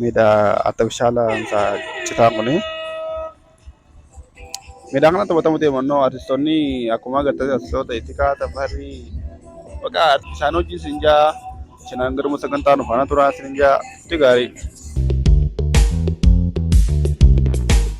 Miidhaa artifishaala isaa citaa kuni. Miidhaa kana taphatamu deemannoo artistoonni akkuma agartee artistoota Itikaa Tafarii baqa isaan hojii isin jaa isinaan garuma sagantaa nu faana turaa isin jaa itti gaarii.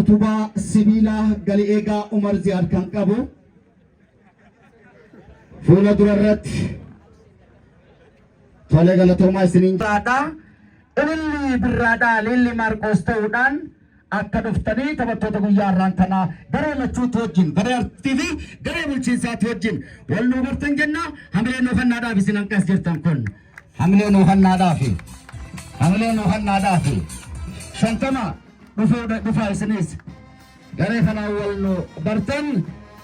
utubaa sibiilaa gali eegaa Umar Ziyaad kan qabu fuula dura irratti tolee galatoomaa isiniin Birraadhaa, ililli birraadhaa, ililli Maarqoos ta'uudhaan Akka dhuftanii taphattoota guyyaa har'aan tanaa garee lachuutti wajjin garee artii fi garee bulchiinsaatti wajjin wal nuu bartan jenna hamilee nuu hannaadhaaf isin hanqas jirtan kun hamilee nuu hannaadhaaf hamilee nuu hannaadhaaf shantama dhufuu dhufaa isinis garee kanaan wal nuu bartan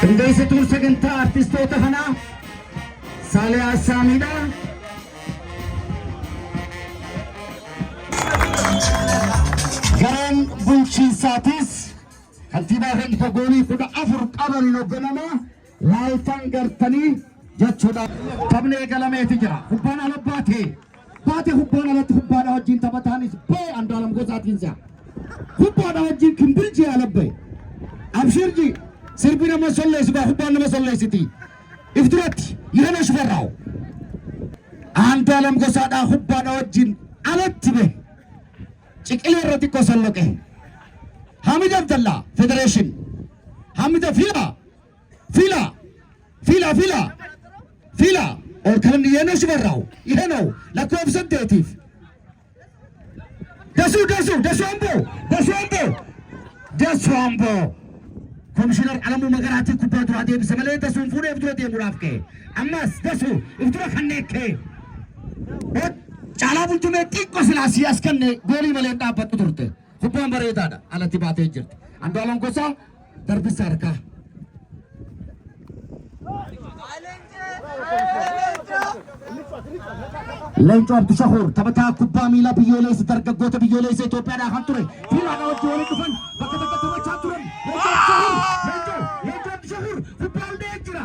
Qindeessituun sagantaa artistoota kanaa Saalee Assaamiidha. Gareen bulchiinsaatis kantiibaa keenya goolii kudha afur qaban hogganamaa Laaltan gartanii jechuudha. Taphni eegalameeti jira. Kubbaan ala baate. Baate kubbaan alatti kubbaadha wajjin taphataanis ba'e Andu'aalam Gosaatiin si'a. Kubbaadha wajjin Kimbiljii ala ba'e. Abshirji sirbi nama solleessu baa kubbaan nama solleessiti. If duratti Yihana Shifarraaw. Andu'aalam Gosaadhaa kubbaadha wajjin alatti ba'e. Ciqilee irra xiqqoo solloqe. Hamid Abdallaa Federeeshin. Hamid Afilaa Fila. Fila fila. Fila. Ol kan dhiyeenya shimarraawu. Ihe noo lakkoofsa saddeetiif. Dasuu dasuu dasuu amboo dasuu amboo dasuu amboo. Komishinar Alamuu Magaraatii kubbaa duraa deebise malee dasuun fuudhee of dura deemuudhaaf ka'e. Ammas dasuu of dura kan neekkee. Caalaa bultumee xiqqoo silaasii as kenne goolii malee hin dhaabbattu turte. Kubbaan bareedaadha. Alatti baatee jirti. Andu'aalam Gosaa darbissa harkaa. Leencoo Abdushakuur taphataa kubbaa miilaa biyyoolessa dargaggoota biyyoolessa Itoophiyaadhaa kan ture fiilaadhaa wajjin waliin dhufan bakka bakka taphachaa turan. Leencoo Abdushakuur Leencoo Leencoo Abdushakuur kubbaa hundee jira.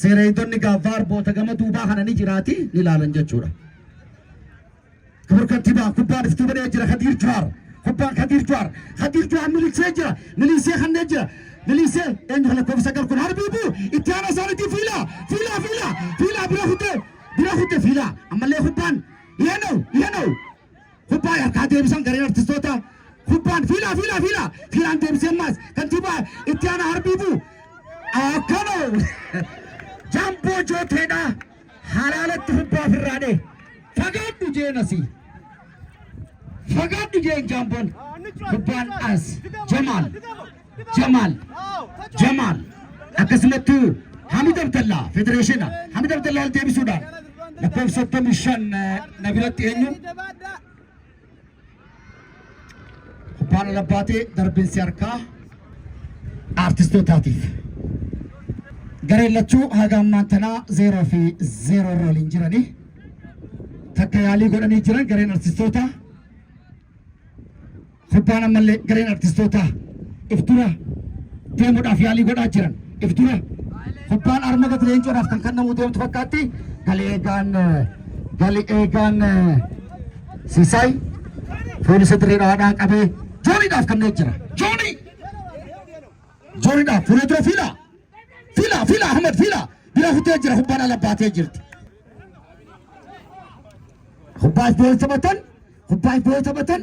Seera eegdonni gaa vaarboota gama duubaa kana ni jiraati ni ilaalan jechuudha. Kibur kantiibaa kubbaan iftuu banee jira Kadiir Juhaar. Kubbaan Kadiir Juhaar. Kadiir Juhaar miliqsee jira. Miliisee kannee jira. Miliisee eenyu kana koofisa gar kun harbiibu itti aanaa isaaniitii fiilaa fiilaa fiilaa fiilaa bira kutee bira kutee fiilaa ammallee kubbaan dhiyanoo dhiyanoo Kubbaa harkaa deebisan gareen artistootaa. Kubbaan fiilaa fiilaa fiilaa fiilaan deebisee ammaas kantiibaa itti aanaa harbiibuu. Akkana jamboo jooteedha halaalatti kubbaa ofirraa dhee. Fagaadhu jeen asii. Fagaadhu jeen jaamboon kubbaan as jamaal. Jamaal Jamaal akkasumatti Hamid Abdallaa federeeshina Hamid Abdallaa ol deebisuudhaan lakkoofsa 35 na biratti eenyu kubbaan ala baatee darbinsi harkaa aartistootaatiif. Gareen lachuu haga ammaan tanaa zeeroo fi zeeroo irra waliin jiranii takka yaalii godhanii jiran gareen aartistootaa. Gubbaan ammallee gareen artistootaa if dura deemuudhaaf yaalii godhaa jiran. If dura gubbaan arma gati leencoodhaaf kan kannamuu deemtu fakkaatti. Gali eegaan gali eegaan Sisaay poolisa dirree dhawaadhaan qabee jooniidhaaf kanneen jira. Joonii! Jooniidhaaf fuula dura fiilaa! Fiilaa! Fiilaa! Ahmad fiilaa! Bira kutee jira gubbaan ala baatee jirti. Gubbaa if boo'ee taphatan. Gubbaa if boo'ee taphatan.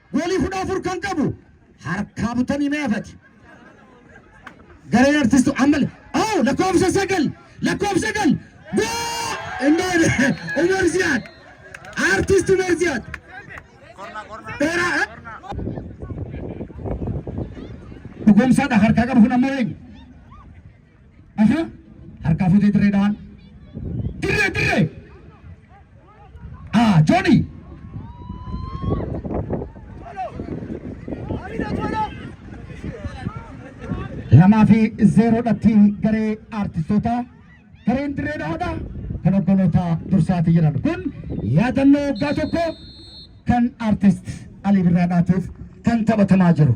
Goolii kudha afur kan qabu harkaa butanii mee afati. Gareen artistu ammal oo lakkoofsa sagal lakkoofsa sagal goo indoone Umar Ziyaad artist Umar Ziyaad dheeraa eh? dhugumsaadha harkaa qabu kun ammoo eenyu? Isa harkaa futee dirree dhahan. Dirree dirree. Ah, Johnny. Lamaa fi zeeroodhatti garee aartistootaa gareen dirree dhahaadha. Kan hogganoota dursaati jedhan kun yaadannoo waggaa tokko kan aartist Alii Birraadhaatiif kan taphatamaa jiru.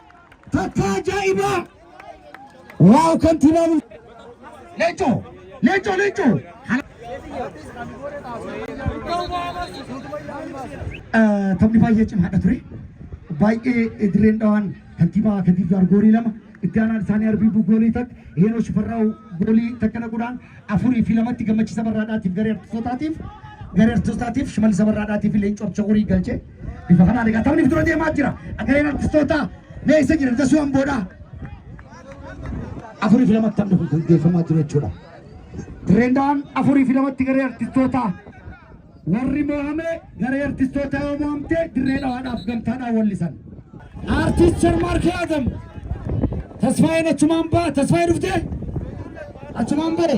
Takkaa ajaa'ibaa! Waaw kantiibaa bul... Leencoo! Leencoo! Leencoo! Taphni baay'ee cimaadha ture. Baay'ee dirreen dhawaan kantiibaa Kadiir Jaar goolii lama itti aanaan isaanii Arbiibuu goolii takka Heenoo Shifarraawu goolii takka naquudhaan afurii fi lamatti gammachiisa barraadhaatiif garee artistootaatiif garee artistootaatiif shimalisa barraadhaatiif leencoo abshaqurii galchee. Bifa kanaan egaa taphni dura deemaa jira. Agareen artistootaa mee isa jira dasuu hamboodha. Afurii fi lamatti taphni kun gaggeeffamaa jiru jechuudha. Dirreendaan afurii fi lamatti garee artistootaa warri mo'ame garee artistootaa yoo mo'amte dirree dhawaadhaaf gamtaadhaan wallisan. Artist Sharmaarkee Adam Tasfaayeen achumaan ba'a Tasfaayee dhuftee achumaan ba'e.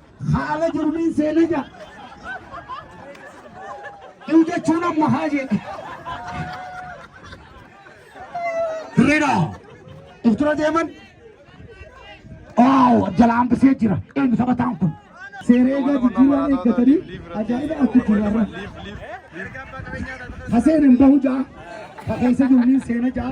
Haala jirmiin seena ja. Iu jechuun amma haa jedhe. Dirreedha. If dura deeman. Waaw jala hambisee jira. Eenyu taphataan kun? Seeree gadi jiraa eeggatanii ajaa'iba arku jirarra. Haseen hin bahu jaa. Hakeessa jirmiin seena jaa.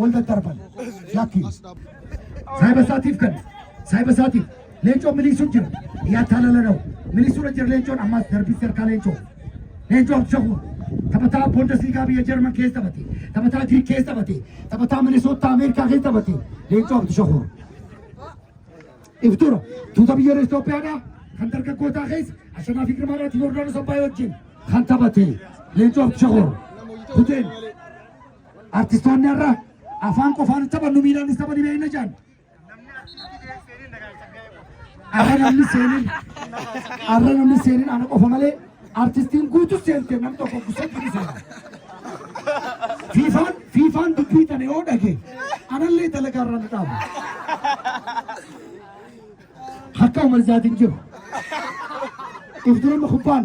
wal daddarban lakki saayiba isaatiif kan saayiba isaatiif leencoon miliisuu jira yaa taalala na'u miliisuudha jira leencoon ammaas darbisee harkaa leencoo leencoo abshakuun taphataa boondasliigaa biyya jarman keessa taphate taphataa giriik keessa taphate taphataa minisootaa ameerikaa keessa taphate leencoo abshakuun iftura tuuta biyyoota Itoophiyaadhaa kan dargaggootaa keessa Ashanaa fi Girmaa irratti Yoordaanos Abbaayee wajjin kan taphate leencoo abshakuun kuteen Artistoonni har'a afaan qofaan taphannu miilaan tapha ni beekna jaan. Har'a namni seenin har'a namni seenin ana qofa malee artistiin guutuu seentee nam tokko gusatti ni seena. Fiifaan fiifaan dubbii tana yoo dhage anallee dalagaa irra na dhaabu. Akka Umar Zaatiin jiru. Iftuun kubbaan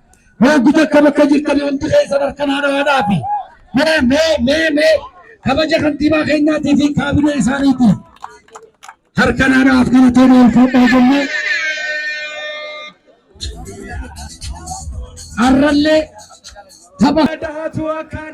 Hooggu takka bakka jirtan wanti keessan harka naanaadhaa fi mee mee mee mee kabaja kantiibaa keenyaatii fi kaabinee isaaniitii harka naanaaf kana ta'e ulfaadhaa jennee har'allee tapha. Dahaatu akkaan.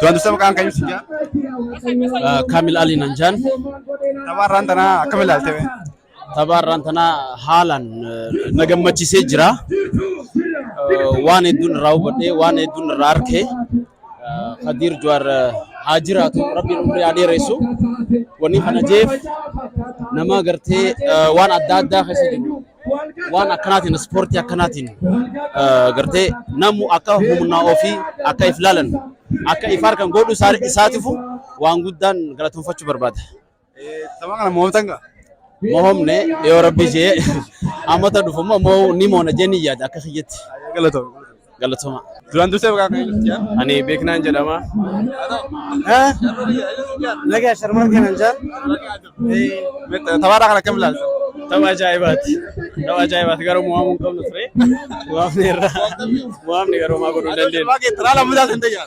Tuan Dusta maqaan kan ibsu jaa. Kamil Ali nan jaan. Taphaa irraan tanaa akkam ilaalte bee? Taphaa irraan tanaa haalaan na gammachiisee jira. Waan hedduun irraa hubadhee waan hedduun irraa arkee Kadiir Juwaar haa jiraatu rabbiin umrii haa dheeressu. Wanni kana jeef nama gartee waan adda addaa keessa jiru waan akkanaatiin ispoortii akkanaatiin gartee namu akka humnaa ofii akka if laalan akka if harkan godhu isaatifu waan guddaan galateeffachuu barbaada. Tapha kana mo'atan gaa? Mo'omne yoo rabbi ishee ammata dhufu immoo ni mo'ona jennee yaada akka kiyyetti. Galatoomne. Galatoma. Duraan dursee maqaa kee nuuf jaa. Ani beeknaan jedhama. Nagaa sharmaan kanan jaa. Taphaadhaa kan akkam ilaalta? Tapha ajaa'ibaati. Tapha ajaa'ibaati garuu mo'amuu hin qabnu ture. Mo'amne irra. Mo'amne garuu maa godhuu hin dandeenye. Taphaa kee taraa lammataa sentee jaa.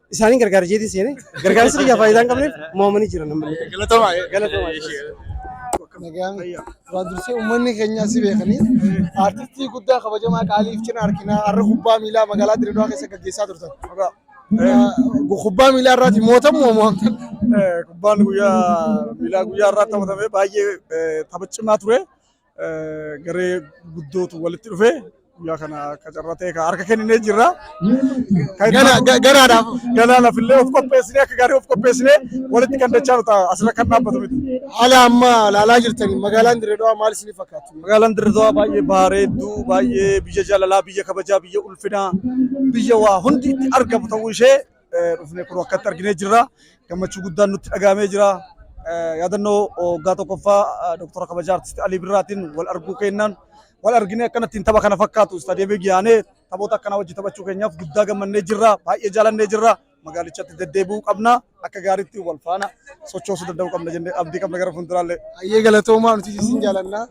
Isaaniin gargaara jeetii seenee gargaarsi kiyyaa faayidaa hin qabneef mo'amanii jiran namni. Galatoomaa. Galatoomaa. Nagaan duraan dursee uummanni keenya si beekanii artistii guddaa kabajamaa qaaliif cina arginaa har'a kubbaa miilaa magaalaa Dirreedawaa keessa gaggeessaa turtan. Kubbaa miilaa irraati mootan moo mo'amtan? Kubbaan guyyaa miilaa guyyaa irraa taphatame baay'ee taphachimaa ture. garee guddootu walitti dhufee guyyaa kana akka carraa ta'e kan harka kenninee jirra. Garaadhaaf. Galaanaaf illee of qopheessinee akka gaarii of qopheessinee walitti kan dachaa nuta asirra kan dhaabbatu miti. Haala amma ilaalaa jirtan magaalaan Dirree Dhawaa maal isinii fakkaatti? Magaalaan Dirree Dhawaa baay'ee bareedduu, baay'ee biyya jaalalaa, biyya kabajaa, biyya ulfinaa, biyya waa hundi itti argamu ta'uu ishee dhufne kun akkatti arginee jirra. Gammachuu guddaan nutti dhagahamee jira. Yaadannoo waggaa tokkoffaa Dooktora Kabajaa Artisti Alii Birraatiin wal arguu kennaan wal arginee akkanatti tapha kana fakkaatu istaadiyeemii giyaanee taphoota akkanaa wajji taphachuu keenyaaf guddaa gammannee jirra. Baay'ee jaalannee jirra. Magaalichatti deddeebi'uu qabna. Akka gaariitti wal faana sochoosuu danda'uu qabna jennee abdii qabna gara fuulduraallee. Ayyee galatoomaa nuti isin jaalannaa.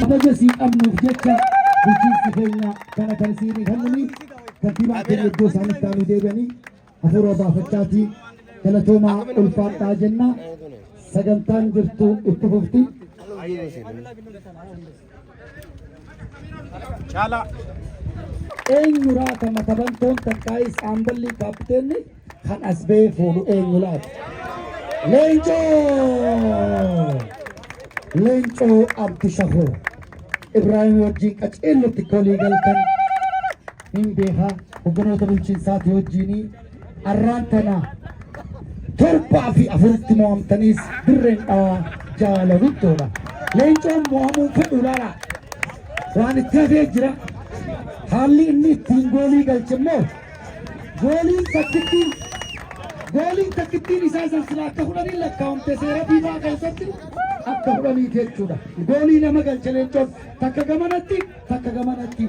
Kabaja sii qabnuuf jecha bulchiinsi keenya kana kan siinii kennanii kantiibaan keenya iddoo isaanitti taa'anii deebi'anii hafuura baafachaatii galatoomaa ulfaadhaa jenna sagantaan jirtu itti fufti. Caalaa. Eenyu laata matabantoon takkaa'ii saamballii kaappiteenni kan as ba'ee fuudhu eenyu laata? Leencoo! Leencoo Abdishahoo Ibraahim wajjin qaceellotti kolii galtan hin beekaa hogganoota bulchiinsaati wajjinii Arraan tana torbaa fi afuritti mo'amtaniis dirreen dhawaa jaala guddoodha. Leencoon mo'amuu fedhu laala. Waan itti hafee jira. Haalli inni ittiin goolii galche immoo gooliin takkittiin gooliin takkittiin isaa san silaa akka fudhanii lakkaa'amte seera fiifaa keessatti akka fudhaniiti jechuudha. Goolii nama galche leencoon takka gamanatti takka gamanatti.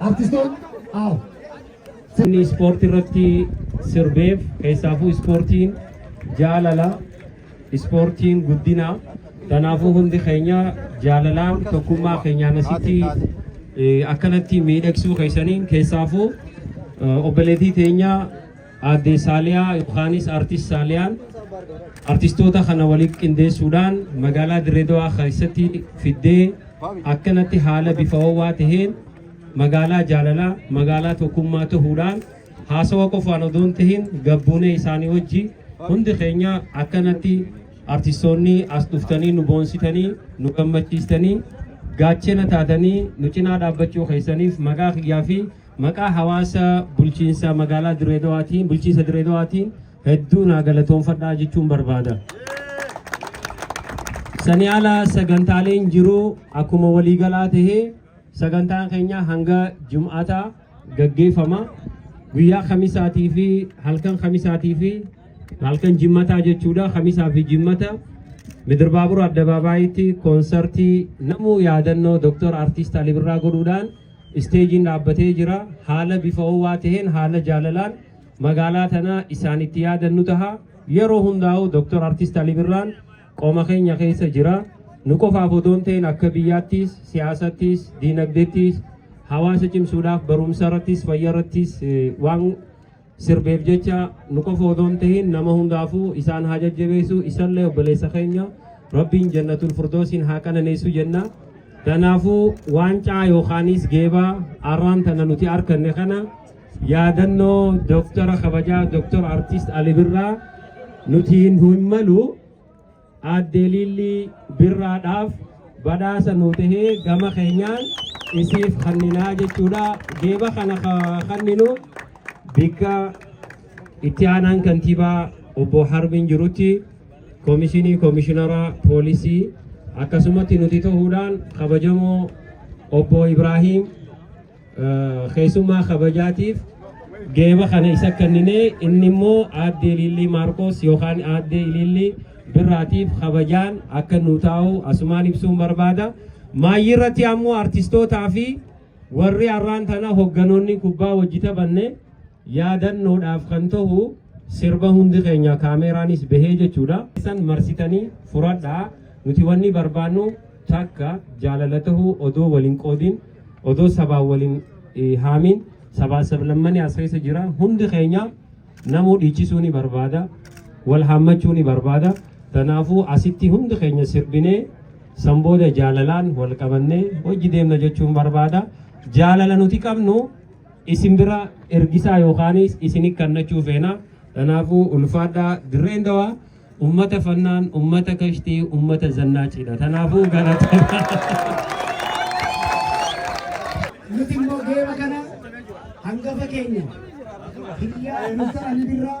Artistoonni aaw. Inni ispoortii irratti sirbeef keessaafuu ispoortiin jaalala ispoortiin guddina kanaafuu hundi keenya jaalalaan tokkummaa keenyaan asitti eh, akkanatti miidhagsuu keessaniin keessaafuu eh, obboleettii teenya Aadde Saaliyaa yookaanis Artist Saaliyaan artistoota kana walitti qindeessuudhaan magaalaa Dirree Dawaa keessatti fiddee akkanatti haala bifa ho'aa taheen magaalaa jaalalaa magaalaa tokkummaa tahuudhaan haasawa qofaan odoo hin tahin gabbuunee isaanii wajji hundi keenya akkanatti artistoonni as dhuftanii nu boonsitanii nu gammachiistanii gaachena taatanii nu cinaa dhaabbachuu keessaniif maqaa kiyyaa fi Maqaa hawaasa bulchiinsa magaalaa Dirree Dawaatiin, bulchiinsa Dirree Dawaatiin hedduu naa galatoonfadhaa jechuun barbaada. Sanii ala sagantaaleen jiru akkuma waliigalaa tahee sagantaan keenya hanga jum'ataa gaggeeffama. Guyyaa kamisaatii fi halkan kamisaatii fi halkan jimmataa jechuudha. Kamisaa fi jimmata Midirbaabur Addabaabaayitti koonsartii namuu yaadannoo Dooktar Artiist Alii Birraa godhuudhaan Isteejiin dhaabbatee jira. Haala bifa ho'aa ta'een, haala jaalalaan magaalaa tana isaan itti yaadannu taha. Yeroo hundaa'u Dr. Artist Ali Birraan qoma keenya keessa jira. Nu qofaaf odoo hin ta'in akka biyyaattis, siyaasattis, diinagdeettis, hawaasa cimsuudhaaf barumsa irrattis, fayya irrattis eh, waan sirbeef jecha nu qofa odoo hin tahin nama hundaafuu isaan haa jajjabeessu isallee obboleessa keenya rabbiin jannatul furdoosiin haa qananeessu jenna kanaafuu waancaa yookaanis geebaa arraan tana nuti arkanne kana yaadannoo doktara kabajaa doktor artist ali birraa nuti hin malu Aadde Liillii Birraadhaaf badhaasa nuu tahee gama keenyaan isiif kanninaa jechuudha. Geeba kana ka kanninu bikka itti aanaan kantiibaa obbo Harbiin jirutti koomishinii koomishinara poolisii akkasumatti nuti ta'uudhaan kabajamoo obbo Ibraahiim keessummaa kabajaatiif geeba kana isa kennine inni immoo aadde Iliillii Maarkoos yookaan aadde Iliillii Birraatiif kabajaan akka nu taa'u asumaan ibsuun barbaada. Maayyii irratti ammoo artistootaa fi warri arraan tana hogganoonni kubbaa hojii taphanne yaadannoodhaaf kan ta'u Sirba hundi keenya kaameeraanis bahee jechuudha. Isan marsitanii furadhaa nuti wanni barbaannu takka jaalala tahuu odoo waliin qoodin odoo sabaa waliin haamin sabaa sablammani as keessa jira hundi keenya namuu dhiichisuu ni barbaada wal haammachuu ni barbaada tanaafuu asitti hundi keenya sirbinee san booda jaalalaan wal qabannee hojji deemna jechuun barbaada jaalala nuti qabnu isin bira ergisaa yookaanis isini kannachuu feena kanaafuu ulfaadhaa dirreen dawaa ummata fannaan ummata kashtii ummata zannaaciidha kanaafuu galatoomaa nuti immoo geema kana hangafa keenya biyyaa nusa ani birraa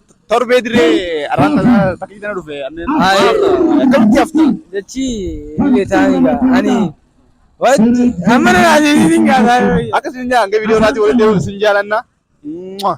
Torbee dirree arraan tana takkii tana dhufe anneen. Hayi. Akkamitti hafta? Jechi illee taa'anii gaa. Ani wanti amma na naasisiin gaa taa'anii. Akka sin jaa hanga viidiyoo irraatti walitti deemuun sin jaalanna. Mwah.